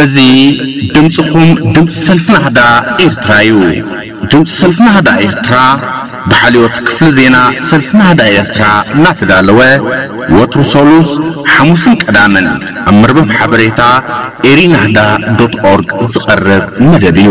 እዚ ድምፅኹም ድምፂ ሰልፊ ናህዳ ኤርትራ እዩ። ድምፂ ሰልፊ ናህዳ ኤርትራ ብሓልዮት ክፍሊ ዜና ሰልፊ ናህዳ ኤርትራ እናተዳለወ ወትሩ ሰሉስ፣ ሓሙስን ቀዳምን ኣብ መርበብ ሓበሬታ ኤሪናህዳ ዶት ኦርግ ዝቐርብ መደብ እዩ።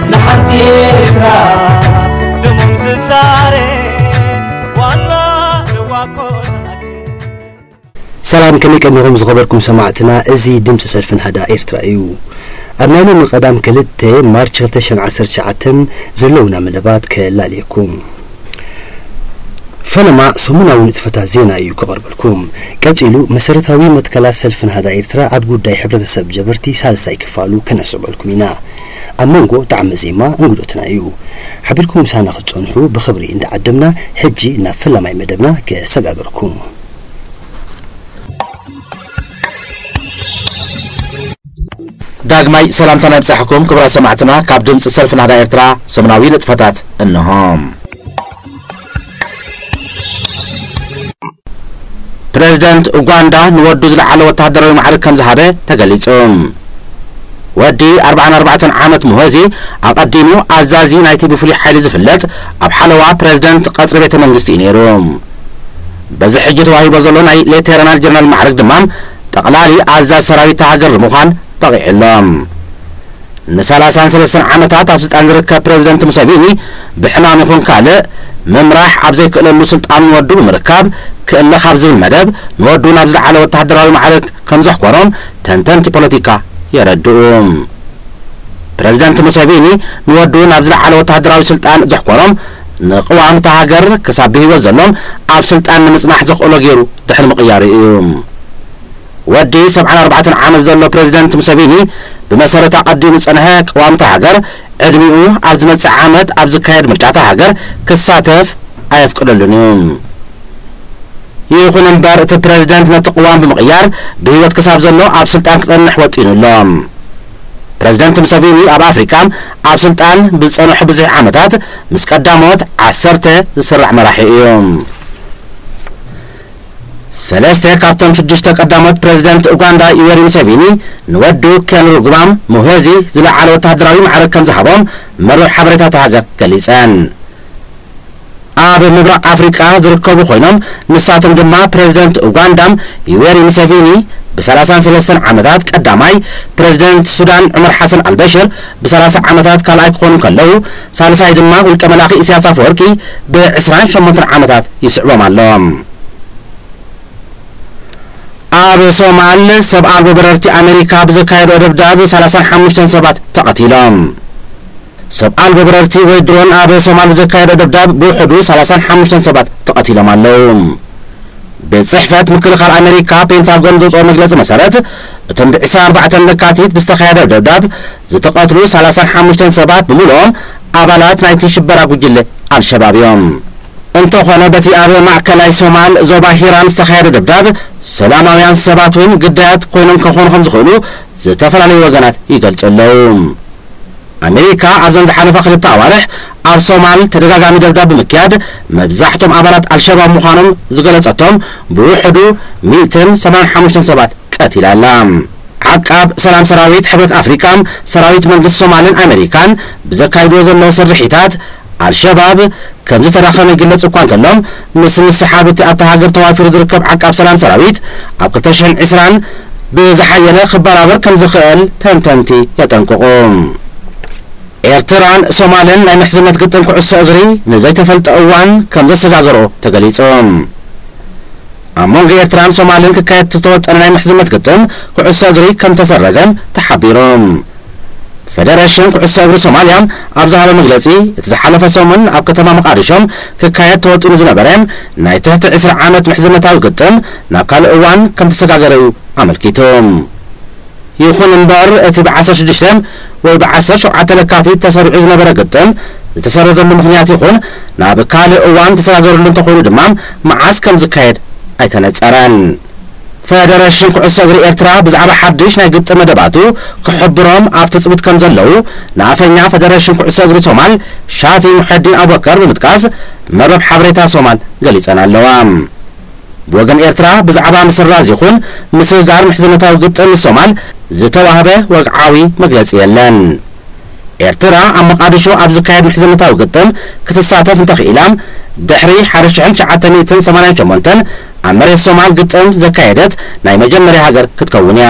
ንሓንቲ ኤርትራ ደሞም ዝዛረ ዋና ንዋኮ ዝሃገር ሰላም ከመይ ቀኒኹም ዝኸበርኩም ሰማዕትና እዚ ድምፂ ሰልፊ ናህዳ ኤርትራ እዩ ኣብ ናይ ሎሚ ቀዳም ክልተ ማርች 2019 ዘለውና መደባት ከላልየኩም ፈለማ ሰሙናዊ ንጥፈታት ዜና እዩ ክቐርበልኩም ቀጺሉ መሰረታዊ መትከላት ሰልፊ ናህዳ ኤርትራ ኣብ ጉዳይ ሕብረተሰብ ጀበርቲ ሳልሳይ ክፋሉ ከነስዕበልኩም ኢና ኣብ መንጎ ጣዕሚ ዜማ እንግዶትና እዩ። ሓቢርኩም ምሳና ክትጸንሑ ብኽብሪ እንዳዓደምና ሕጂ ናብ ፈላማይ መደብና ከሰጋግረኩም። ዳግማይ ሰላምታና ይብጻሕኩም ክቡራት ሰማዕትና ካብ ድምጺ ሰልፊ ናህዳ ኤርትራ ሰሙናዊ ንጥፈታት እነሆ። ፕረዚደንት ኡጋንዳ ንወዱ ዝለዓለ ወተሃደራዊ ማዕርግ ከም ዝሃበ ተገሊጹ። ወዲ ኣርብዓን ኣርባዕተን ዓመት ሙሆዚ፣ ኣቐዲሙ ኣዛዚ ናይቲ ብፍሉይ ሓይሊ ዝፍለጥ ኣብ ሓለዋ ፕረዚደንት ቐጽሪ ቤተ መንግስቲ እዩ ነይሩ። በዚ ሕጂ ተዋሂቦ ዘሎ ናይ ሌተርናል ጀነራል ማዕርግ ድማ ጠቕላሊ ኣዛዚ ሰራዊት እታ ሃገር ንምዃን በቒዑ ኣሎ። ንሰላሳን ሰለስተን ዓመታት ኣብ ስልጣን ዝርከብ ፕረዚደንት ሙሰቪኒ ብሕማም ይኹን ካልእ፣ ምምራሕ ኣብ ዘይክእለሉ ስልጣኑ ንወዱ ብምርካብ ክእለ ካብ ዝብል መደብ፣ ንወዱ ናብ ዝለዓለ ወተሃደራዊ ማዕርግ ከምዘሕኮሮም ተንተንቲ ፖለቲካ የረድኡ። ፕረዚደንት ሙሰቪኒ ንወዱ ናብ ዝለዓለ ወተሃደራዊ ስልጣን ዘሕኮሮም፣ ንቅዋም እታ ሃገር ክሳብ ብህይወት ዘሎም ኣብ ስልጣን ንምጽናሕ ዘኽእሎ ገይሩ ድሕሪ ምቕያሩ እዩ። ወዲ ሰብዓን ኣርባዕተን ዓመት ዘሎ ፕረዚደንት ሙሰቪኒ፣ ብመሰረት ኣቐዲሙ ዝጸንሐ ቅዋም'ታ ሃገር፣ ዕድሚኡ ኣብ ዝመጽእ ዓመት ኣብ ዝካየድ ምርጫ'ታ ሃገር ክሳተፍ ኣየፍቅደሉን'ዩ። ይኹን'ምበር እቲ ፕረዚደንት ነቲ ቅዋም ብምቕያር ብህይወት ክሳብ ዘሎ ኣብ ስልጣን ክጸንሕ ወጢኑ ኣሎ። ፕረዚደንት ሙሰቪኒ ኣብ ኣፍሪቃ ኣብ ስልጣን ብዝጸንሖ ብዝሒ ዓመታት ምስ ቀዳሞት ዓሰርተ ዝስራዕ መራሒ'ዩ። ሰለስተ ካብቶም ሽዱሽተ ቀዳሞት ፕረዚደንት ኡጋንዳ ዩዌሪ ሙሴቪኒ ንወዱ ኬንሩጉባ ሙሄዚ ዝለዓለ ወተሃደራዊ ማዕርግ ከምዝሃቦም መርበብ ሓበሬታ እታ ሃገር ገሊጸን። ኣብ ምብራቕ ኣፍሪቃ ዝርከቡ ኮይኖም ንሳቶም ድማ ፕረዚደንት ኡጋንዳ ዩዌሪ ሙሴቪኒ ብ ሰላሳን ሰለስተን ዓመታት ቀዳማይ፣ ፕረዚደንት ሱዳን ዑመር ሓሰን ኣልበሽር ብ ሰላሳ ዓመታት ካልኣይ ክኾኑ እንከለዉ፣ ሳልሳይ ድማ ውልቀ መላኺ እስያስ ኣፈወርቂ ብ ዕስራን ሸሞንተን ዓመታት ይስዕቦም ኣሎ። ኣብ ሶማል ሰብ ኣልቦ በረርቲ ኣመሪካ ብዘካየድኦ ደብዳብ ሰላሳን ሓሙሽተን ሰባት ተቐቲሎም። ሰብ ኣልቦ በረርቲ ወይ ድሮን ኣብ ሶማል ብዘካየድኦ ደብዳብ ብውሕዱ ሰላሳን ሓሙሽተን ሰባት ተቐቲሎም ኣለዉ። ቤት ጽሕፈት ምክልኻል ኣመሪካ ፔንታጎን ዘውጽኦ መግለጺ መሰረት እቶም ብ ዕስራን ኣርባዕተን ለካቲት ብዝተኻየደ ደብዳብ ዝተቐትሉ ሰላሳን ሓሙሽተን ሰባት ብምሉኦም ኣባላት ናይቲ ሽበራ ጉጅለ ኣልሸባብ እዮም። እንተኾነ በቲ ኣብ ማእከላይ ሶማል ዞባ ሂራን ዝተኻየደ ደብዳብ፣ ሰላማውያን ሰባት እውን ግዳያት ኮይኖም ከኾኑ ከምዝኽእሉ ዝተፈላለዩ ወገናት ይገልጹ ኣለዉ። ኣሜሪካ ኣብዘን ዝሓለፋ ክልተ ኣዋርሕ ኣብ ሶማል ተደጋጋሚ ደብዳብ ብምክያድ መብዛሕቶም ኣባላት ኣልሸባብ ምዃኖም ዝገለጸቶም ብውሕዱ ሚእትን ሰማንያን ሓሙሽተን ሰባት ቀቲላ ኣላ። ዓቃብ ሰላም ሰራዊት ሕብረት ኣፍሪቃ፣ ሰራዊት መንግስቲ ሶማልን ኣመሪካን ብዘካይድዎ ዘለዉ ስርሒታት፣ ኣልሸባብ ከምዝተዳኸመ ይግለጽ እኳ እንተሎ፣ ምስ ምስሓብ እቲ ኣብታ ሃገር ተዋፊሩ ዝርከብ ዓቃብ ሰላም ሰራዊት ኣብ ክልተ ሽሕን ዕስራን ብዝሓየለ ክበራበር ከምዝኽእል ተንተንቲ የጠንቅቑ። ኤርትራን ሶማልን ናይ ምሕዝነት ግጥም ኩዕሶ እግሪ ንዘይተፈልጠ እዋን ከምዘሰጋገርኦ ተገሊጹ። ኣብ መንጎ ኤርትራን ሶማልን ክካየድ ዝተወጠነ ናይ ምሕዝነት ግጥም ኩዕሶ እግሪ ከምተሰረዘ ተሓቢሩ። ፈደረሽን ኩዕሶ እግሪ ሶማልያ ኣብ ዝሃቦ መግለጺ፣ እቲ ዝሓለፈ ሰሙን ኣብ ከተማ መቓዲሾ ክካየድ ተወጢኑ ዝነበረ ናይ ትሕቲ ዕስራ ዓመት ምሕዝነታዊ ግጥም ናብ ካልእ እዋን ከምተሰጋገረ'ዩ ኣመልኪቱ። ይኹን እምበር እቲ ብዓሰርተ ሽዱሽተ ወይ ብዓሰርተ ሸውዓተ ለካቲት ተሰሪዑ ዝነበረ ግጥም ዝተሰረዘሉ ምኽንያት ይኹን ናብ ካልእ እዋን ተሰጋገርሉ እንተኾይኑ ድማ መዓስ ከምዝካየድ ኣይተነጸረን። ፈደረሽን ኩዕሶ እግሪ ኤርትራ ብዛዕባ ሓድሽ ናይ ግጥም መደባቱ ክሕብሮም ኣብ ትጽቢት ከምዘለዉ ንኣፈኛ ፈደረሽን ኩዕሶ እግሪ ሶማል ሻፊ ሙሐዲን ኣቡበከር ብምጥቃስ መርበብ ሓበሬታ ሶማል ገሊጸን ኣለዋ። ብወገን ኤርትራ ብዛዕባ ምስራዝ ይኹን ምስግጋር ምሕዝነታዊ ግጥም ምስ ሶማል ዝተዋህበ ወግዓዊ መግለጺ የለን። ኤርትራ ኣብ መቓድሾ ኣብ ዝካየድ ምሕዝነታዊ ግጥም ክትሳተፍ እንተኽኢላ ድሕሪ ሓደ ሽሕን ትሽዓተ ሚእትን ሰማንያን ሸሞንተን ኣብ መሬት ሶማል ግጥም ዘካየደት ናይ መጀመርያ ሃገር ክትከውን እያ።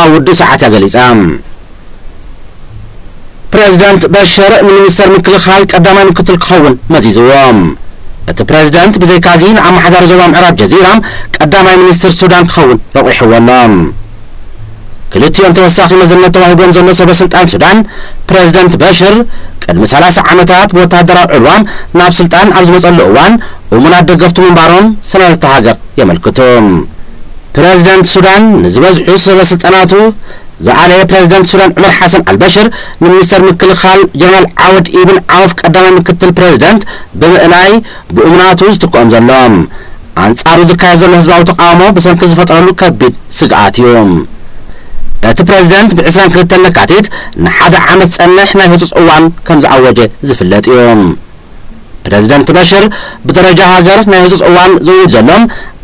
ኣብ ውዱእ ሰዓታ ገሊጻ። ፕረዚደንት በሽር ንሚኒስተር ምክልኻል ቀዳማይ ምክትል ክኸውን መዚዝዎ። እቲ ፕረዚደንት ብዘይካ'ዚ ንኣመሓዳሪ ዞባ ምዕራብ ጀዚራ ቀዳማይ ሚኒስትር ሱዳን ክኸውን ረቚሕዎ ኣሎ። ክልቲኦም ተወሳኺ መዝነት ተዋሂብዎም ዘሎ ሰበስልጣን ሱዳን፣ ፕረዚደንት በሽር ቅድሚ ሰላሳ ዓመታት ብወተሃደራዊ ዕልዋ ናብ ስልጣን ኣብ ዝመጸሉ እዋን እሙናት ደገፍቱ ምንባሮም ሰነዳት'ታ ሃገር የመልክቱ። ፕረዚደንት ሱዳን ንዝበዝሑ ሰበስልጣናቱ ዝኣለየ ፕረዚደንት ሱዳን ዑመር ሓሰን ኣልበሽር ንሚኒስተር ምክልኻል ጀነራል ዓወድ ኢብን ዓውፍ ቀዳማይ ምክትል ፕረዚደንት ብምእላይ ብኡ ናቱ ዝትክኦም ዘሎ ኣንጻሩ ዝካየድ ዘሎ ህዝባዊ ተቓውሞ ብሰንኪ ዝፈጠረሉ ከቢድ ስግኣት እዩ። እቲ ፕረዚደንት ብ ዕስራን ክልተን ለካቲት ንሓደ ዓመት ዝጸንሕ ናይ ህጹጽ እዋን ከምዝኣወጀ ዝፍለጥ እዩ። ፕረዚደንት በሽር ብደረጃ ሃገር ናይ ህጹጽ እዋን ዘውጅ ዘሎ፣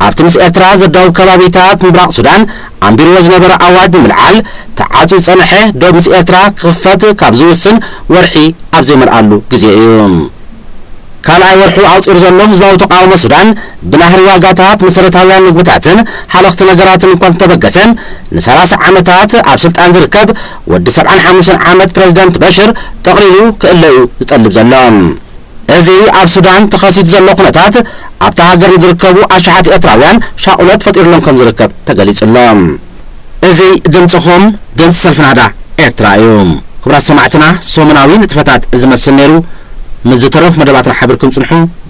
ኣብቲ ምስ ኤርትራ ዘዳውብ ከባቢታት ምብራቕ ሱዳን ኣንቢርዎ ዝነበረ ኣዋጅ ብምልዓል፣ ተዓጽዩ ዝጸንሐ ዶብ ምስ ኤርትራ ክኽፈት ካብ ዝውስን ወርሒ ኣብ ዘይመልኣሉ ግዜ እዩ። ካልኣይ ወርሑ ኣቑጺሩ ዘሎ ህዝባዊ ተቓውሞ ሱዳን፣ ብናህሪ ዋጋታት መሰረታውያን መግብታትን ሃለኽቲ ነገራትን እኳ እንተተበገሰ፣ ንሰላሳ ዓመታት ኣብ ስልጣን ዝርከብ ወዲ ሰብዓን ሓሙሽተን ዓመት ፕረዚደንት በሽር ጠቕሊሉ ክእለ'ዩ ዝጠልብ ዘሎ። እዚ ኣብ ሱዳን ተኸሲቱ ዘሎ ኩነታት ኣብታ ሃገር ንዝርከቡ ኣሽሓት ኤርትራውያን ሻቑሎት ፈጢሩሎም ከምዝርከብ ተገሊጹ'ሎ። እዚ ድምጽኹም ድምጺ ሰልፊ ናህዳ ኤርትራ እዩ። ክቡራት ሰማዕትና ሰሙናዊ ንጥፈታት እዚ መስል ነይሩ። ምስ ዝተረፉ መደባትና ሓቢርኩም ጽንሑ።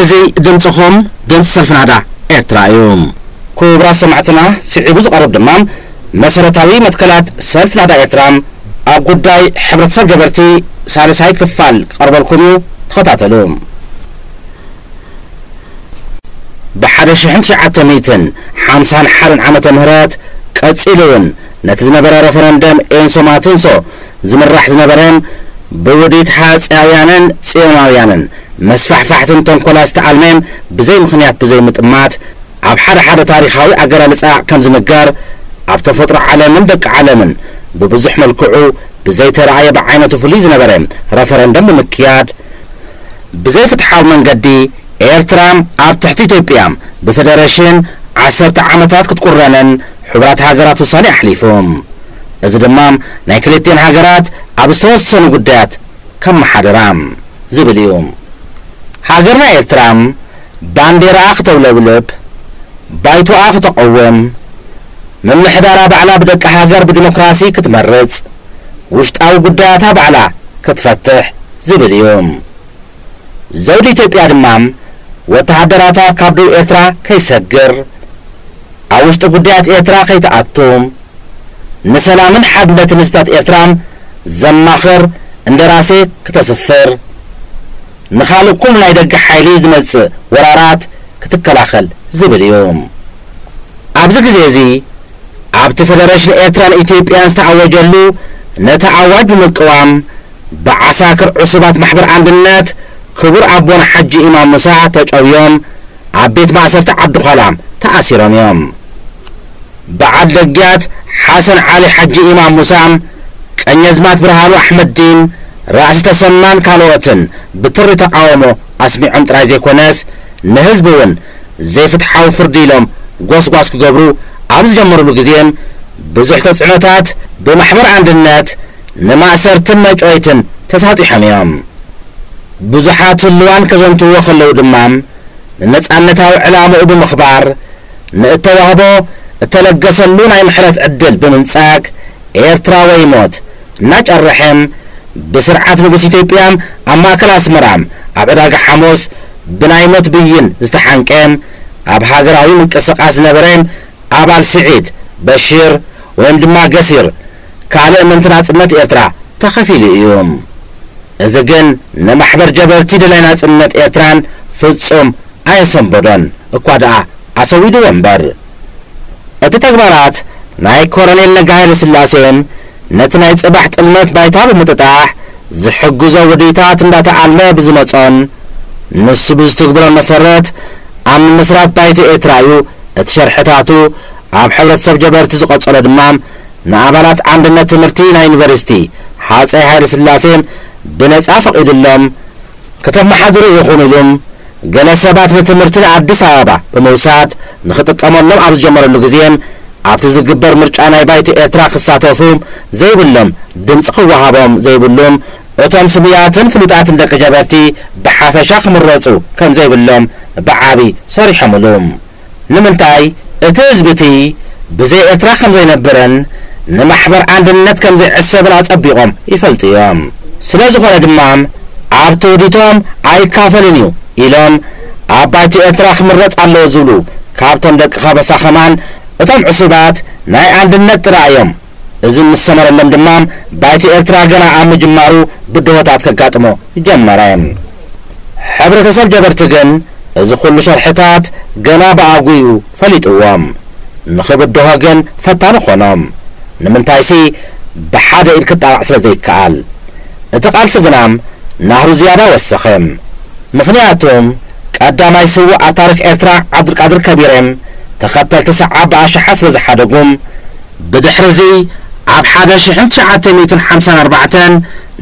እዚ ድምጽኹም ድምጺ ሰልፊ ናህዳ ኤርትራ እዩ። ኩቡራት ሰማዕትና ሲዒቡ ዝቐርብ ድማ መሰረታዊ መትከላት ሰልፊ ናህዳ ኤርትራ ኣብ ጉዳይ ሕብረተሰብ ገበርቲ ሳልሳይ ክፋል ክቐርበልኩም እዩ ተኸታተሉ። ብ ሓደ ሽሕን ትሽዓተ ሚእትን ሓምሳን ሓደን ዓመተ ምህረት ቀጺሉ ውን ነቲ ዝነበረ ረፈረንደም ኤንሶ ማትንሶ ዝምራሕ ዝነበረን ብውዲት ሃጺያውያንን ጽዮናውያንን መስፋሕፋሕትን ተንኮላ ዝተኣልሜን ብዘይ ምኽንያት ብዘይ ምጥማት ኣብ ሓደ ሓደ ታሪኻዊ ኣገላልጻ ከም ዝንገር ኣብ ተፈጥሮ ዓለምን ደቂ ዓለምን ብብዙሕ መልክዑ ብዘይተራእየ ብዓይነቱ ፍሉይ ዝነበረ ረፈረንደም ብምክያድ ብዘይ ፍትሓዊ መንገዲ ኤርትራ ኣብ ትሕቲ ኢትዮጵያ ብፈደረሽን ዓሰርተ ዓመታት ክትቁረንን ሕቡራት ሃገራት ውሳኔ ኣሕሊፉ። እዚ ድማ ናይ ክልቲኤን ሃገራት ኣብ ዝተወሰኑ ጉዳያት ከመሓድራ ዝብል እዩ። ሃገርና ኤርትራ ባንዴራኣ ክተውለብልብ፣ ባይቶኣ ክተቐውም፣ ምምሕዳራ ባዕላ ብደቂ ሃገር ብዲሞክራሲ ክትመርጽ፣ ውሽጣዊ ጉዳያታ ባዕላ ክትፈትሕ ዝብል እዩ። ዘውዲ ኢትዮጵያ ድማ ወተሃደራታ ካብ ዶብ ኤርትራ ከይሰግር፣ ኣብ ውሽጢ ጉዳያት ኤርትራ ከይትኣቱ፣ ንሰላምን ሓድነትን ህዝብታት ኤርትራን ዘማኽር እንደራሴ ክተስፍር፣ ንኻልእ ኩሉ ናይ ደገ ሓይሊ ዝመጽእ ወራራት ክትከላኸል ዝብል እዩ። ኣብዚ ግዜ'ዚ ኣብቲ ፈደረሽን ኤርትራን ኢትዮጵያን ዝተኣወጀሉ ነቲ ኣዋጅ ብምቅዋም፣ ብዓሳክር ዕሱባት ማሕበር ኣንድነት ክቡር ኣቦና ሓጂ ኢማም ሙሳ ተጨውዮም ኣብ ቤት ማእሰርቲ ዓዲ ዃላ ተኣሲሮም እዮም። በዓል ደግያት ሓሰን ዓሊ ሓጂ ኢማም ሙሳ፣ ቀኘዝማት ብርሃኑ ኣሕመድዲን፣ ራእሲ ተሰማን ካልኦትን ብትሪ ተቓውሞ ኣስሚዖም ጥራይ ዘይኮነስ ንህዝቢ እውን ዘይፍትሓዊ ፍርዲ ኢሎም ጎስጓስ ክገብሩ ኣብ ዝጀመሩሉ ግዜ ብዙሕ ተፅዕኖታት ብማሕበር ኣንድነት ንማእሰርትን መጭወይትን ተሳጢሖም እዮም። ብዙሓት ህሉዋን ከዘንትውዎ ከለዉ ድማ ንነጻነታዊ ዕላምኡ ብምኽባር ንእተዋህቦ እተለገሰሉ ናይ ምሕረት ዕድል ብምንጻግ ኤርትራ ወይ ሞት እናጨረሐም ብስርዓት ንጉስ ኢትዮጵያም ኣብ ማእከል ኣስመራም ኣብ ዕዳጋ ሓሙስ ብናይ ሞት ብይን ዝተሓንቀም ኣብ ሃገራዊ ምንቅስቃስ ዝነበረም ኣባል ስዒድ በሽር ወይም ድማ ገሲር ካልእ ምእንቲ ናጽነት ኤርትራ ተኸፊሉ እዩ። እዚ ግን ንማሕበር ጀበርቲ ደላይ ናጽነት ኤርትራን ፍጹም ኣየሰንበዶን እኳ ደኣ ኣሰዊድዎ እምበር። እቲ ተግባራት ናይ ኮረኔል ነጋ ሃይለስላሴ ነቲ ናይ ጽባሕ ጥልመት ባይታ ብምጥጣሕ ዝሕግዞ ውዲታት እንዳተኣልመ ብዝመጾን ንሱ ብዝትግብሮን መሰረት ኣብ ምምስራት ባይቶ ኤርትራ እዩ እቲ ሸርሕታቱ ኣብ ሕብረተሰብ ጀበርቲ ዝቐጸሎ ድማ ንኣባላት ኣንድነት ትምህርቲ ናይ ዩኒቨርሲቲ ሃፀይ ሃይለስላሴ ብነፃ ፈቒዱሎም ክተመሓድሩ ኢኹም ኢሉም ገለ ሰባት ንትምህርቲ ንኣዲስ ኣበባ ብምውሳድ ንክጥቀመሎም ኣብ ዝጀመረሉ ግዜ ኣብቲ ዝግበር ምርጫ ናይ ባይቶ ኤርትራ ክሳተፉ ዘይብሎም ድምፂ ክወሃቦም ዘይብሉም እቶም ስሙያትን ፍሉጣትን ደቂ ጀበርቲ ብሓፈሻ ክምረፁ ከምዘይብሎም ብዓብይ ሰሪሖምሉ። ንምንታይ እቲ ህዝቢ እቲ ብዘይ ኤርትራ ከም ዘይነብርን ንማሕበር ኣንድነት ከም ዘይዕሰብን ኣጸቢቖም ይፈልጡ እዮም። ስለ ዝኾነ ድማ ኣብ ትውዲቶም ኣይካፈልን እዩ ኢሎም ኣብ ባይቶ ኤርትራ ክምረጽ ኣለዎ ዝብሉ ካብቶም ደቂ ከበሳ ከማን እቶም ዕሱባት ናይ ኣንድነት ጥራይ እዮም። እዚ ምስ ሰመረሎም ድማ ባይቶ ኤርትራ ገና ኣብ ምጅማሩ ብድሆታት ከጋጥሞ ጀመረ። ሕብረተሰብ ጀበርቲ ግን እዚ ኩሉ ሸርሕታት ገና ብኣጉኡ ፈሊጥዎም። ንኽብድሆ ግን ፈታኒ ኮኖም። ንምንታይሲ ብሓደ ኢድ ክጣቓዕ ስለ ዘይከኣል። እቲ ቃልሲ ግና ናህሩ ዝያዳ ወሰኸ። ምኽንያቱም ቀዳማይ ስውእ ኣብ ታሪኽ ኤርትራ ዓብዱልቃድር ከቢሬም ተኸተልቲ ሰዓብ ብኣሽሓት ስለ ዝሓደጉም፣ ብድሕርዚ ኣብ ሓደ ሽሕን ትሽዓተ ሚእትን ሓምሳን ኣርባዕተን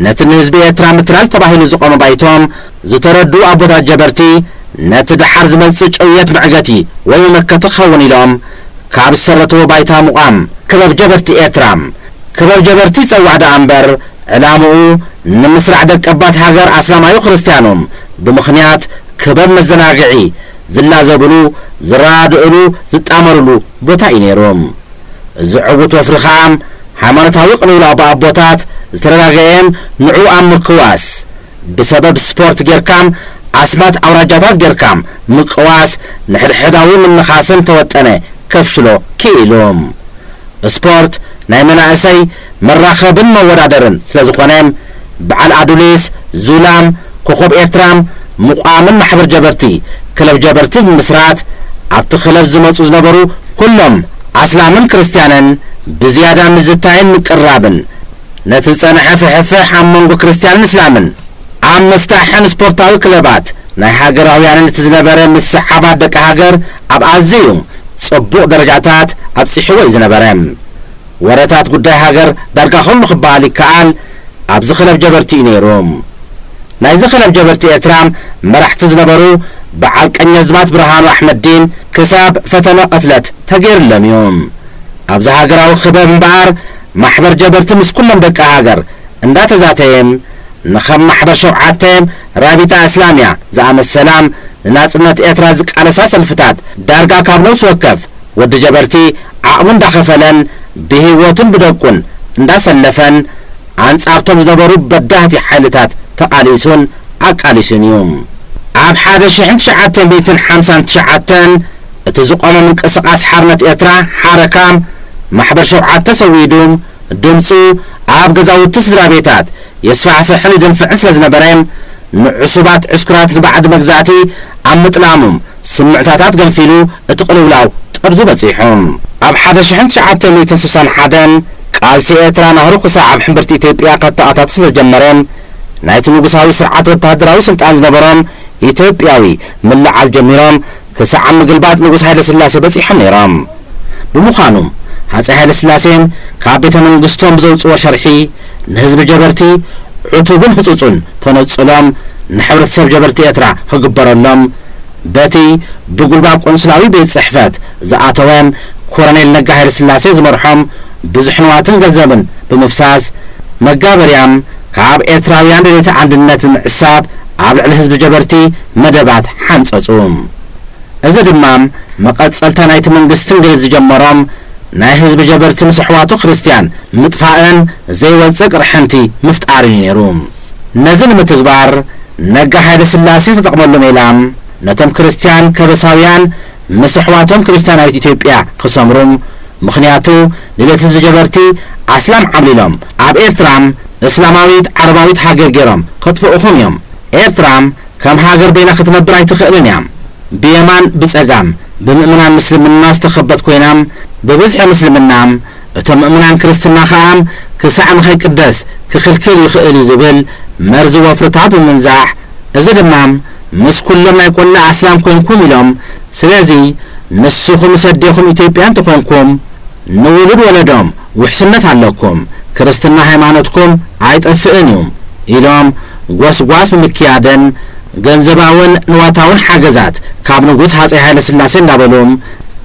ነቲ ንህዝቢ ኤርትራ ምትላል ተባሂሉ ዝቖመ ባይቶም ዝተረድኡ ኣቦታት ጀበርቲ ነቲ ደሓር ዝመጽእ ጭውየት መዕገቲ ወይ መመከቲ ክኸውን ኢሎም ካብ ዝሰረትዎ ባይታ ምቛም ክበብ ጀበርቲ ኤርትራ ክበብ ጀበርቲ ይጸዋዕ ደኣ እምበር ዕላምኡ ንምስራዕ ደቀባት ሃገር ኣስላማዩ ክርስትያኑ ብምኽንያት ክበብ መዘናግዒ ዝላዘብሉ፣ ዝረዳድእሉ፣ ዝጣመርሉ ቦታ እዩ ነይሩ። እዚ ዕውት ወፍሪ ከኣ ሃይማኖታዊ ቅልውላው ብኣቦታት ዝተረጋገኤን ንዕኡ ኣብ ምክዋስ ብሰበብ ስፖርት ጌርካም ኣስማት ኣውራጃታት ጌርካም ምቅዋስ ንሕድሕዳዊ ምንኻስን ዝተወጠነ ከፍሽሎ ክኢሉ። ስፖርት ናይ መናእሰይ መራኸብን መወዳደርን ስለዝኾነ በዓል ኣዱሊስ፣ ዙላም፣ ኮኾብ ኤርትራ ምቋምን ማሕበር ጀበርቲ፣ ክለብ ጀበርቲ፣ ብምምስራት ኣብቲ ክለብ ዝመጹ ዝነበሩ ኩሎም ኣስላምን ክርስትያንን ብዝያዳ ምዝታይን ምቅርራብን ነቲ ዝጸንሐ ፍሕፍሕ ኣብ መንጎ ክርስትያንን እስላምን ኣብ ምፍታሕን ስፖርታዊ ክለባት ናይ ሃገራውያንን እቲ ዝነበረ ምስሕሓባት ደቂ ሃገር ኣብ ኣዘዩ ጽቡቕ ደረጃታት ኣብጺሕዎ እዩ ዝነበረ። ወረታት ጉዳይ ሃገር ዳርጋ ኩሉ ክበሃል ይከኣል ኣብዚ ክለብ ጀበርቲ እዩ ነይሩ። ናይዚ ክለብ ጀበርቲ ኤርትራ መራሕቲ ዝነበሩ በዓል ቀኘዝማት ብርሃኑ ኣሕመዲን ክሳብ ፈተነ ቅትለት ተገይርሎም እዩ። ኣብዚ ሃገራዊ ክበብ እምበኣር ማሕበር ጀበርቲ ምስ ኩሎም ደቂ ሃገር እንዳተዛተየም ንከም ማሕበር ሸውዓተ፣ ራቢጣ እስላሚያ ዝኣመሰላ ንናጽነት ኤርትራ ዝቃለሳ ሰልፍታት ዳርጋ ካብ ነብሲ ወከፍ ወዲ ጀበርቲ ዓቕሙ እንዳኸፈለን ብሂወቱን ብደቁን እንዳሰለፈን ኣንጻርቶም ዝነበሩ በዳህቲ ሓይልታት ተቓሊሱን ኣቃሊሱን እዩ። ኣብ ሓደ ሽሕን ትሽዓተ ሚእትን ሓምሳን ትሽዓተን እቲ ዝቖመ ምንቅስቓስ ሓርነት ኤርትራ፣ ሓረካ፣ ማሕበር ሸውዓተ ሰዊዱ ድምጹ ኣብ ገዛውቲ ስድራቤታት የስፋሕፍሕን ይድንፍዕን ስለዝነበረ ንዕሱባት ዕስኩራት ንባዕዲ መግዛእቲ ኣብ ምጥላሙም ስምዕታታት ገንፊሉ እቲ ቅልውላው ጠርዙ በጺሑ። ኣብ ሓደ ሽሕን ትሽዓተ ሚእትን ስሳን ሓደን ቃልሲ ኤርትራ ናህሩ ክሳዕ ኣብ ሕምብርቲ ኢትዮጵያ ከተኣታቱ ስለዝጀመረ፣ ናይቲ ንጉሳዊ ስርዓት ወተሃደራዊ ስልጣን ዝነበሮም ኢትዮጵያዊ ምልዕዓል ጀሚሮም ክሳዕ ኣብ ምግልባጥ ንጉስ ሃይለስላሴ በጺሖም ነይሮም። ብምዃኑ ሃጸይ ሃይለስላሴ ካብ ቤተ መንግስቶም ብዘውጽእዎ ሸርሒ ንህዝቢ ጀበርቲ ዕቱብን ህጹጹን ተነጽሎም ንሕብረተሰብ ጀበርቲ ኤርትራ ክግበረሎም በቲ ብጉልባብ ቆንስላዊ ቤት ጽሕፈት ዝኣተወ ኮረኔል ነጋ ሃይለስላሴ ዝመርሖም ብዙሕ ንዋትን ገንዘብን ብምፍሳስ መጋበርያም ካብ ኤርትራውያን ደለይቲ ኣንድነት ብምዕሳብ ኣብ ልዕሊ ህዝቢ ጀበርቲ መደባት ሓንጸጹ። እዚ ድማ መቐጸልታ ናይቲ መንግስቲ እንግሊዝ ዝጀመሮም ናይ ህዝቢ ጀበርቲ ምስ ኣሕዋቱ ክርስትያን ምጥፋእን ዘይወጽእ ቅርሕንቲ ምፍጣርን እዩ ነይሩ። ነዚ ንምትግባር ነጋ ሃይለስላሴ ዝተጠቕመሉ ሜላ፣ ነቶም ክርስትያን ከበሳውያን ምስ ኣሕዋቶም ክርስትያናዊት ኢትዮጵያ ክሰምሩ፣ ምኽንያቱ ድሌት ህዝቢ ጀበርቲ ኣስላም ዓብሊሎም ኣብ ኤርትራ እስላማዊት ዓረባዊት ሃገር ጌሮም ከጥፍኡኹም እዮም። ኤርትራ ከም ሃገር በይና ክትነብር ኣይትኽእልን እያ። ብየማን ብጸጋም ብምእምናን ምስልምና ዝተኸበት ኮይና ብብዝሒ ምስልምና፣ እቶም ምእምናን ክርስትና ከኣ ክሳዕ ንኸይቅደስ ክኽልክል ይኽእል እዩ ዝብል መርዚ ወፍርታት ብምንዛሕ እዚ ድማ ምስ ኩሎም ናይ ቆላ ኣስላም ኮንኩም ኢሎም ስለዚ ንስኹም ምስ ኣዴኹም ኢትዮጵያ እንተኾንኩም ንውሉድ ወለዶም ውሕስነት ኣለኩም ክርስትና ሃይማኖትኩም ኣይጠፍእን እዩ ኢሎም ጎስጓስ ብምክያድን ገንዘባውን ንዋታውን ሓገዛት ካብ ንጉስ ሃፀይ ሃይለስላሴ እንዳበሉ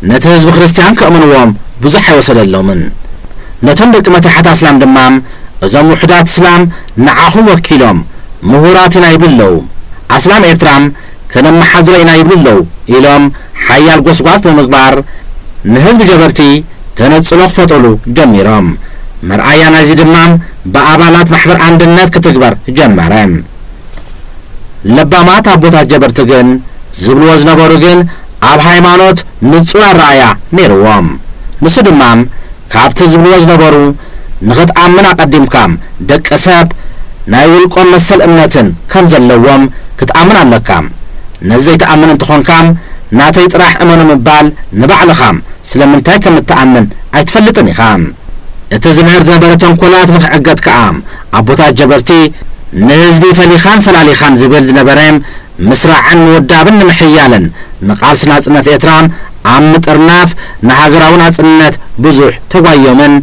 ነቲ ህዝቢ ክርስትያን ከእምንዎም ብዙሕ ኣይወሰደሎምን። ነቶም ደቂ መታሕት ኣስላም ድማ እዞም ውሑዳት እስላም ንዓኹም ወኪሎም ምሁራት ኢና ይብሉ ኣለው። ኣስላም ኤርትራ ከነመሓድሮ ኢና ይብሉ ኣለዉ ኢሎም ሓያል ጎስጓስ ብምግባር ንህዝቢ ጀበርቲ ተነጽሎ ክፈጥሩሉ ጀሚሮም። መርኣያ ናይዚ ድማ ብኣባላት ማሕበር ኣንድነት ክትግበር ጀመረ። ለባማት ኣቦታት ጀበርቲ ግን ዝብልዎ ዝነበሩ ግን ኣብ ሃይማኖት፣ ንጹር ኣረኣእያ ነይርዎም። ንሱ ድማ ካብቲ ዝብልዎ ዝነበሩ ንኽትኣምን ኣቐዲምካ ደቂ ሰብ ናይ ውልቆም መሰል እምነትን ከም ዘለዎም ክትኣምን ኣለካ። ነዚ ዘይትኣምን እንተኾንካ ናተይ ጥራሕ እመኑ ምባል ንባዕልኻ ስለምንታይ ከም እትኣምን ኣይትፈልጥን ኢኻ። እቲ ዝምህር ዝነበረ ተንኮላት ንኽዕገት ከኣ ኣቦታት ጀበርቲ ንህዝቢ ፈሊኻን ፈላሊኻን ዝብል ዝነበረ ምስራዕን ምውዳብን ንምሕያልን ንቃልሲ ናጽነት ኤርትራ ኣብ ምጥርናፍ ንሃገራዊ ናጽነት ብዙሕ ተጓይዮምን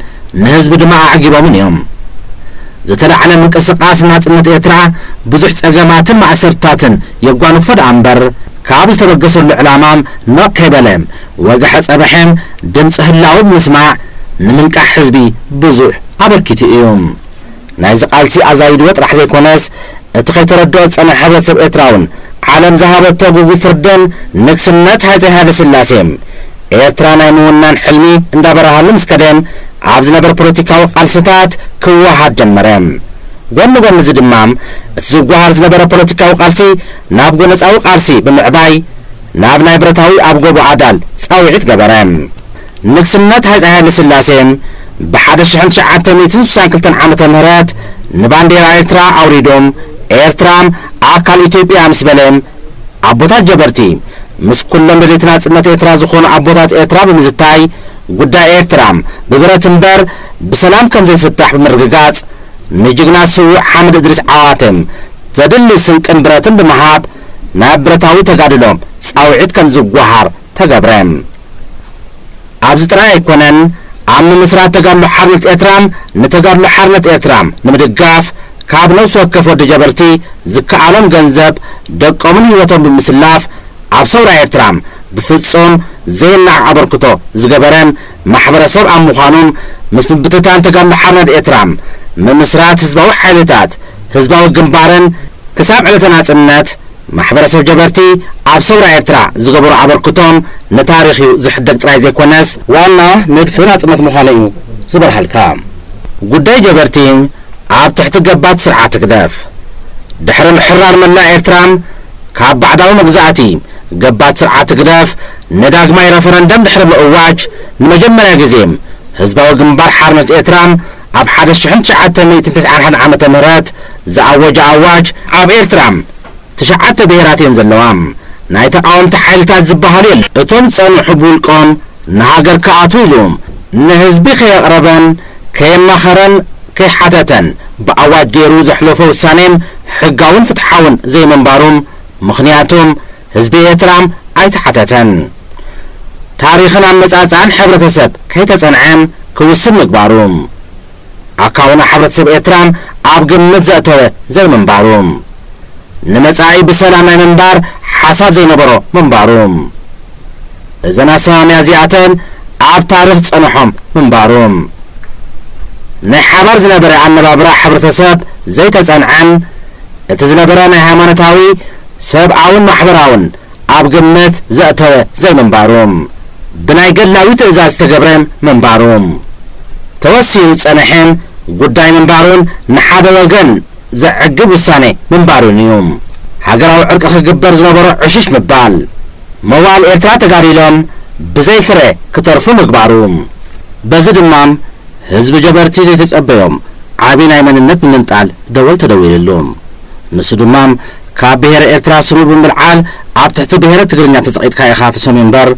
ንህዝቢ ድማ ኣዕጊቦምን እዮም። ዝተላዕለ ምንቅስቃስ ንናጽነት ኤርትራ ብዙሕ ጸገማትን ማእሰርትታትን የጓንፎ ደኣ እምበር ካብ ዝተበገሰሉ ዕላማም ነቕ ከይበለ ወግሐ ጸበሐ ድምጺ ህላወ ብምስማዕ ንምንቃሕ ህዝቢ ብዙሕ ኣበርኪቱ እዩ። ናይዚ ቃልሲ ኣዛይድዎ ጥራሕ ዘይኮነስ እቲ ከይተረድኦ ዝጸንሐ ሕብረተሰብ ኤርትራውን ዓለም ዝሃበቶ ግጉይ ፍርድን ንግስነት ሃጸይ ሃይለስላሴን ኤርትራ ናይ ምውናን ሕልሚ እንዳበረሃሉ ምስ ከደን ኣብ ዝነበረ ፖለቲካዊ ቃልስታት ክወሃሃድ ጀመረ። ጎኒ ጎኒ እዚ ድማ እቲ ዝጓሃር ዝነበረ ፖለቲካዊ ቃልሲ ናብ ጎነጻዊ ቃልሲ ብምዕባይ ናብ ናይ ብረታዊ ኣብ ጎቦ ኣዳል ጻውዒት ገበረ። ንግስነት ሃጸይ ሃይለስላሴ ብሓደ ሽሕን ትሽዓተ ሚእትን ስሳን ክልተን ዓመተ ምህረት ንባንዴራ ኤርትራ ኣውሪዱ ኤርትራ ኣካል ኢትዮጵያ እያ ምስ በለ፣ ኣቦታት ጀበርቲ ምስ ኩሎም ደለይቲ ናጽነት ኤርትራ ዝኾኑ ኣቦታት ኤርትራ ብምዝታይ ጉዳይ ኤርትራ ብብረት እምበር ብሰላም ከምዘይፍታሕ ብምርግጋጽ ንጅግና ስዉእ ሓምድ እድሪስ ዓዋተ ዘድሊ ስንቅን ብረትን ብምሃብ ናብ ብረታዊ ተጋድሎ ጻውዒት ከምዝጓሃር ተገብረ። ኣብዚ ጥራይ ኣይኮነን ኣብ ምምስራት ተጋድሎ ሓርነት ኤርትራ ንተጋድሎ ሓርነት ኤርትራ ንምድጋፍ ካብ ነብሲ ወከፍ ወዲ ጀበርቲ ዝከኣሎም ገንዘብ ደቆምን ሂወቶም ብምስላፍ ኣብ ሰውራ ኤርትራ ብፍጹም ዘይናዕ ኣበርክቶ ዝገበረ ማሕበረ ሰብ ኣብ ምዃኑ ምስ ምብትታን ተጋድሎ ሓርነድ ኤርትራ ምምስራት ህዝባዊ ሓይልታት ህዝባዊ ግንባርን ክሳብ ዕለተ ናጽነት ማሕበረሰብ ጀበርቲ ኣብ ሰውራ ኤርትራ ዝገበሮ ኣበርክቶም ንታሪኽ እዩ ዝሕደግ ጥራይ ዘይኮነስ፣ ዋና ንድፊ ናጽነት ምዃኑ እዩ ዝበርሃልካ ጉዳይ ጀበርቲ ኣብ ትሕቲ ገባቲ ስርዓት ህግደፍ ድሕሪ ምሕራር መላእ ኤርትራ ካብ ባዕዳዊ መግዛእቲ ገባቲ ስርዓት ህግደፍ ንዳግማይ ረፈረንደም ድሕሪ ምእዋጅ ንመጀመርያ ግዜ ህዝባዊ ግንባር ሓርነት ኤርትራ ኣብ ሓደ ሽሕን ትሽዓተ ሚእትን ትስዓን ሓደን ዓመተ ምህረት ዝኣወጃ ኣዋጅ ኣብ ኤርትራ ትሽዓተ ብሄራት እየን ዘለዋ ናይ ተቃወምቲ ሓይልታት ዝብሃሉ የለን እቶም ዝጸንሑ ብውልቆም ንሃገር ክኣትው ኢሉ ንህዝቢ ከየቅረበን ከየማኸረን ከይሓተተን ብኣዋጅ ገይሩ ዘሕለፎ ውሳኔም ሕጋውን ፍትሓውን ዘይምንባሩም ምኽንያቱም ህዝቢ ኤርትራ ኣይተሓተተን። ታሪኽን ኣመጻጽኣን ሕብረተሰብ ከይተጸንዐ ክውስን ምግባሩ። ኣካውና ሕብረተሰብ ኤርትራ ኣብ ግምት ዘእተወ ዘይምንባሩ። ንመጻኢ ብሰላም ናይ ምንባር ሓሳብ ዘይነበሮ ምንባሩ። እዘን ኣሰማምያ እዚኣተን ኣብ ታሪኽ ጸንሖም ምንባሩ። ናይ ሓባር ዝነበረ ኣነባብራ ሕብረተሰብ ዘይተጸንዐን እቲ ዝነበረ ናይ ሃይማኖታዊ ሰብኣውን ማሕበራውን ኣብ ግምት ዘእተወ ዘይምንባሩ፣ ብናይ ገድላዊ ትእዛዝ ዝተገብረ ምንባሩ፣ ተወሲኑ ዝጸነሐ ጉዳይ ምንባሩን ንሓደ ወገን ዘዕግብ ውሳኔ ምንባሩን እዩ ሃገራዊ ዕርቂ ክግበር ዝነበሮ ዕሽሽ ምባል። መዋእል ኤርትራ ተጋዲሎም ብዘይ ፍረ ክተርፉ ምግባሩ። በዚ ድማ ህዝቢ ጀበርቲ ዘይተጸበዮም ዓቢ ናይ መንነት ምምንጣል ደወል ተደዊልሉ። ንሱ ድማ። ካብ ብሄረ ኤርትራ ስሙ ብምልዓል ኣብ ትሕቲ ብሄረ ትግርኛ ተጸቒጥካ ኢኻ ትሰምዮ እምበር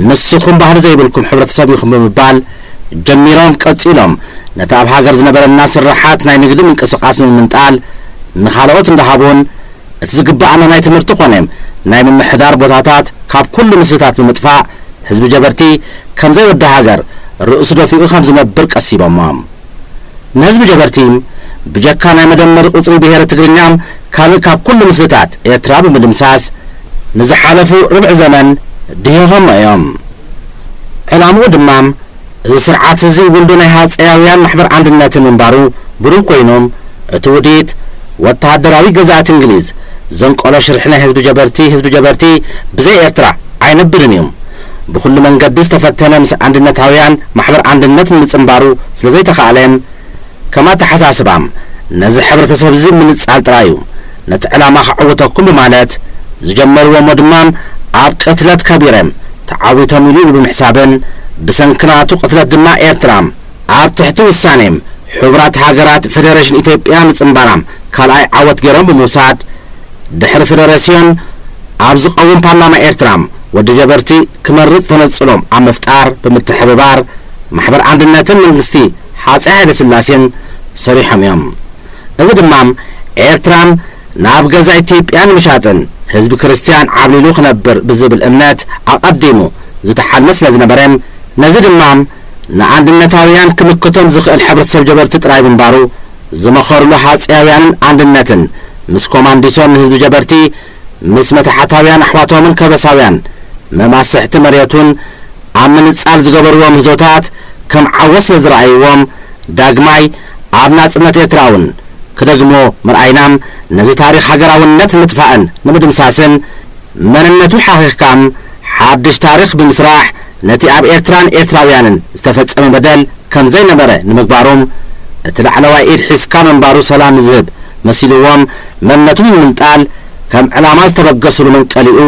ንስኹም ባህሊ ዘይብልኩም ሕብረተሰብ ኢኹም ብምባል ጀሚሮም ቀጺሎም ነቲ ኣብ ሃገር ዝነበረና ስርሓት ናይ ንግዲ ምንቅስቓስ ብምምንጣል ንኻልኦት እንዳሃቡን እቲ ዝግብኣና ናይ ትምህርቲ ኮነ ናይ ምምሕዳር ቦታታት ካብ ኩሉ ምስልታት ብምጥፋእ ህዝቢ ጀበርቲ ከምዘይወዲ ሃገር ርእሱ ደፊኡ ከምዝነብር ቀሲቦሞ። ንህዝቢ ጀበርቲ ብጀካ ናይ መደመሪ ቁጽሪ ብሄረ ትግርኛ ካልእ ካብ ኩሉ ምስልታት ኤርትራ ብምድምሳስ ንዝሓለፉ ርብዒ ዘመን ድሂኾሞ እዮም። ዕላምኡ ድማ እዚ ስርዓት እዚ ውልዶ ናይ ሃጸያውያን ማሕበር ኣንድነትን ምንባሩ ብሩህ ኮይኑ እቲ ውዲት ወተሃደራዊ ገዛእቲ እንግሊዝ ዘንቀሎ ሽርሒ ናይ ህዝቢ ጀበርቲ ህዝቢ ጀበርቲ ብዘይ ኤርትራ ኣይነብርን እዩ ብኹሉ መንገዲ ዝተፈተነ ምስ ኣንድነታውያን ማሕበር ኣንድነት ንምጽንባሩ ስለ ዘይተኻእለ፣ ከም ኣተሓሳስባ ነዚ ሕብረተሰብ'ዚ ምንጻል ጥራይ'ዩ ነቲ ዕላማ ከዕውተኩም ብማለት ዝጀመርዎ'ሞ ድማ ኣብ ቅትለት ከቢረ ተዓዊቶም ኢሉ ኢሉ ብምሕሳብን ብሰንኪ ናቱ ቅትለት ድማ ኤርትራ ኣብ ትሕቲ ውሳኔ ሕቡራት ሃገራት ፈደረሽን ኢትዮጵያ ምጽንባራ ካልኣይ ዓወት ገይሮም ብምውሳድ፣ ድሕሪ ፈደረስዮን ኣብ ዝቐውም ፓርላማ ኤርትራ ወዲ ጀበርቲ ክመርጽ ተነጽሎ ኣብ ምፍጣር ብምትሕብባር ማሕበር ኣንድነትን መንግስቲ ሃጸይ ሃይለስላሴን ሰሪሖም እዮም። እዚ ድማ ኤርትራ ናብ ገዛ ኢትዮጵያ ንምሻጥን ህዝቢ ክርስትያን ዓብሊሉ ክነብር ብዝብል እምነት ኣቐዲሙ ዝተሓልመ ስለዝነበረ ነዚ ድማ ንኣንድነታውያን ክምክቶም ዝኽእል ሕብረተሰብ ጀበርቲ ጥራይ ምንባሩ ዝመኸርሉ ሃጸያውያንን ኣንድነትን ምስ ኮማንዲሶን ንህዝቢ ጀበርቲ ምስ መታሕታውያን ኣሕዋቶምን ከበሳውያን መማስሕቲ መርየቱን ኣብ ምንጻል ዝገበርዎ ምህዞታት ከም ዓወት ስለ ዝረኣይዎም ዳግማይ ኣብ ናጽነት ኤርትራውን ክደግምዎ ምርኣይናም ነዚ ታሪኽ ሃገራውነት ንምጥፋእን ንምድምሳስን መንነቱ ሓኺኽካም ሓድሽ ታሪኽ ብምስራሕ ነቲ ኣብ ኤርትራን ኤርትራውያንን ዝተፈጸመ በደል ከም ዘይነበረ ንምግባሩም እቲ ላዕለዋይ ኢድ ሒዝካ ምንባሩ ሰላም ዝህብ መሲልዎም መንነቱም ንምንጣል ከም ዕላማ ዝተበገሱሉ መንቀሊኡ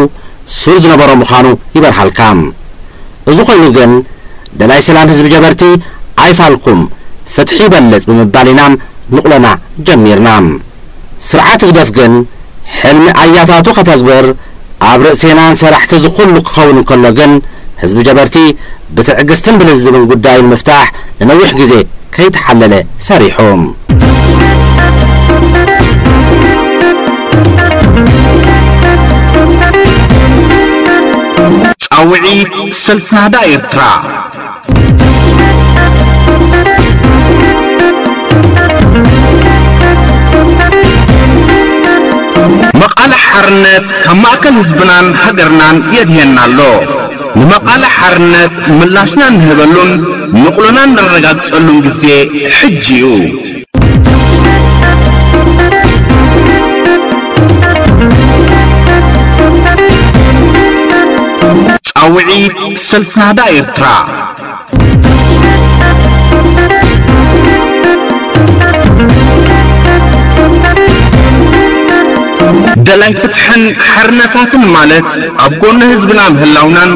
ሱር ዝነበሮ ምዃኑ ይበርሃልካ። እዚ ኮይኑ ግን ደላይ ሰላም ህዝቢ ጀበርቲ ኣይፋልኩም ፍትሒ ይበልጽ ብምባል ኢናም ንቑለና ጀሚርና። ስርዓት ህግደፍ ግን ሕልሚ ኣያታቱ ከተግብር ኣብ ርእሴናን ሰራሕቲ እዚ ኩሉ ክኸውን እንከሎ ግን ህዝቢ ጀበርቲ ብትዕግስትን ብልዝብን ጉዳዩ ንምፍታሕ ንነዊሕ ግዜ ከይተሓለለ ሰሪሑ። ጻውዒት ሰልፊ ናህዳ ኤርትራ! መቃልሕ ሓርነት ካብ ማእከል ህዝብናን ሃገርናን የድህየና ኣሎ። ንመቃልሕ ሓርነት ምላሽና እንህበሉን ንቕሎና እነረጋግጸሉን ግዜ ሕጂ እዩ። ጻውዒት ሰልፊ ናህዳ ኤርትራ ደላይ ፍትሕን ሓርነታትን ማለት ኣብ ጎኒ ህዝብና ምህላውናን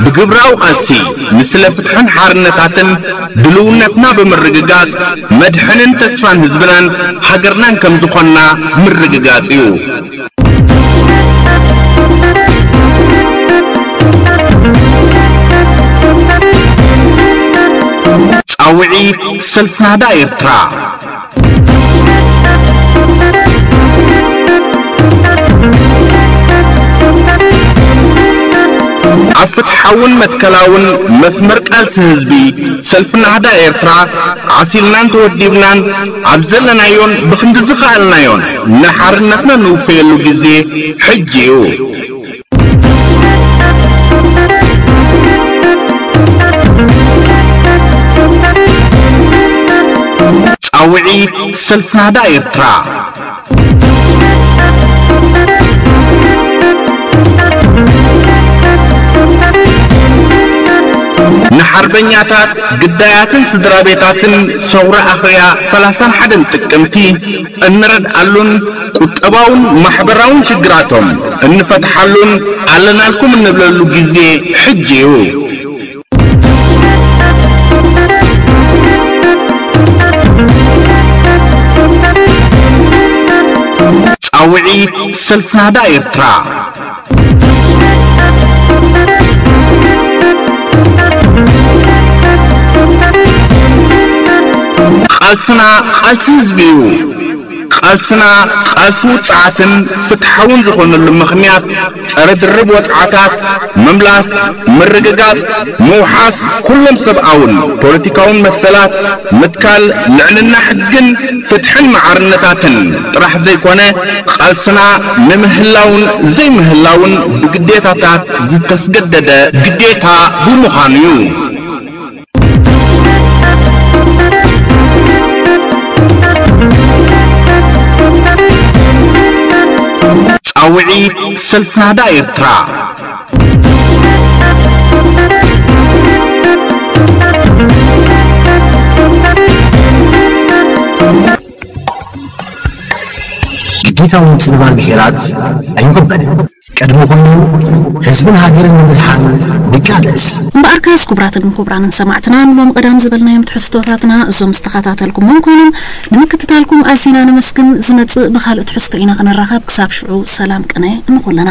ብግብራዊ ቃልሲ ንስለ ፍትሕን ሓርነታትን ድልውነትና ብምርግጋጽ መድሕንን ተስፋን ህዝብናን ሃገርናን ከም ዝኾንና ምርግጋጽ እዩ። ጻውዒት ሰልፊ ናህዳ ኤርትራ! ኣብ ፍትሓውን መትከላውን መስመር ቃልሲ ህዝቢ ሰልፊ ናህዳ ኤርትራ ዓሲልናን ተወዲብናን ኣብ ዘለናዮን ብክንዲ ዝኸኣልናዮን ንሓርነትና ንውፈየሉ ግዜ ሕጂ እዩ። ጻውዒት ሰልፊ ናህዳ ኤርትራ ንሓርበኛታት ግዳያትን ስድራ ቤታትን ሰውራ ኣኽርያ 31 ጥቅምቲ እንረድኣሉን ቁጠባውን ማሕበራውን ሽግራቶም እንፈትሓሉን ኣለናልኩም እንብለሉ ግዜ ሕጂ እዩ። ጻውዒት ሰልፊ ናህዳ ኤርትራ! ቃልስና ቃልሲ ህዝቢ እዩ። ቃልስና ቃልሲ ውጽዓትን ፍትሓውን ዝኾነሉ ምኽንያት ጸረ ድርብ ወጽዓታት ምምላስ፣ ምርግጋጽ፣ ምውሓስ ኩሎም ሰብኣውን ፖለቲካውን መሰላት፣ ምትካል ልዕልና ሕግን ፍትሕን ማዕርነታትን ጥራሕ ዘይኮነ፣ ቃልስና ንምህላውን ዘይምህላውን ብግዴታታት ዝተስገደደ ግዴታ ብምዃኑ እዩ። ጻውዒት ሰልፊ ናህዳ ኤርትራ! ግዴታዊ ምጽንባር ብሄራት ኣይንቕበልን። ቅድሚ ኩሉ ህዝብን ሃገርን ንምድሓን ንቃለስ። እምበኣርካስ ኩቡራትን ኩቡራንን ሰማዕትና ንሎሚ ቀዳም ዝበልናዮም ትሕዝቶታትና እዞም ዝተኸታተልኩሞም ኮይኖም ንምክትታልኩም ኣዚና ነመስግን ዝመጽእ ብኻልእ ትሕዝቶ ኢና ክንራኸብ ክሳብ ሽዑ ሰላም ቅነ ንኹልና።